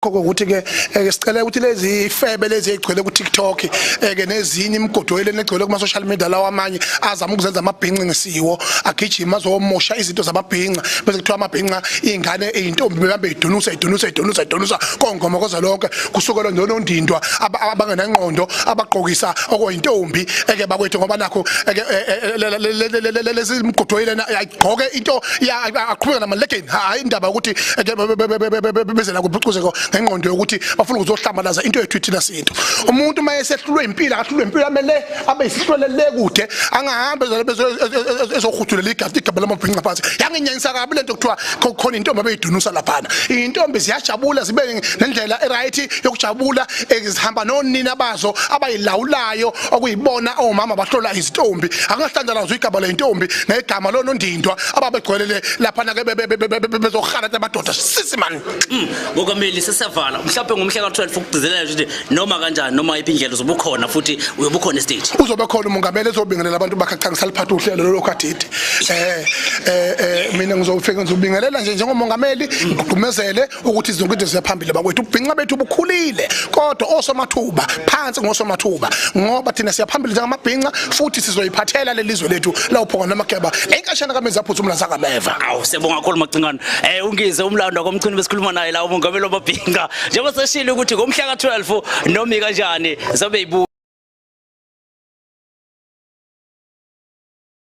khoko ukuthi ke eh, sicela ukuthi lezi febe lezi egcwele ku TikTok eh, ke nezinye imigodoyile negcwele kuma social media lawa amanye azama ukuzenza amabhinqi ngesiwo agijima azomosha izinto zamabhinqa bese kuthiwa amabhinqa ingane ezintombi behambe idunusa idunusa idunusa idunusa kongoma koza lonke kusukela nonondindwa abangenangqondo abagqokisa okuyintombi eke bakwethu ngoba nakho eh, lezi imigodoyile gqoke into aqhubeka namalegeni hayi indaba yokuthi bezela kuphucuzeko ngengqondo yokuthi bafuna ukuzohlambalaza into yethu ithina sintu umuntu uma esehlulwe impilo akahlulwe impilo amele abe isihlwele le kude angahambe ezohuthulela igadi igaba lamabhinqa phansi yanginyanyisa kabi lento kuthiwa khona intombi abeyidunusa laphana iy'ntombi ziyajabula zibe nendlela e-right yokujabula eh, zihamba nonina bazo abayilawulayo okuyibona omama bahlola izintombi angahlanjana nazo igama lentombi negama lonondindwa ababegcwelele lapha nake bezohala amadoda sisi man mm, ngokameli sesevala mhlawumbe ngomhla ka-12 ukugcizelela ukuthi noma kanjani noma iphi indlela uzobukhona futhi uyobukhona estage uzobe khona umongameli ezobingelela abantu bakhe cha ngisaliphatha uhlelo lolokhu adidi um eh, um eh, mina ngizofike ngizobingelela nje njengomongameli ngigqumezele ukuthi izinto into ziyaphambili bakwethu ubhinca bethu bukhulile kodwa osomathuba phansi ngosomathuba ngoba thina siyaphambili njengamabhinca futhi sizoyiphathela lelizwe lethu lawuphonga namakeba enkashana kamenza phuthu umla zakameva awu siyabonga kakhulu macingane eh ungize umlando komchini besikhuluma naye la umongameli wamabhinca njengoba seshilo ukuthi ngomhla ka12 nomi kanjani zobe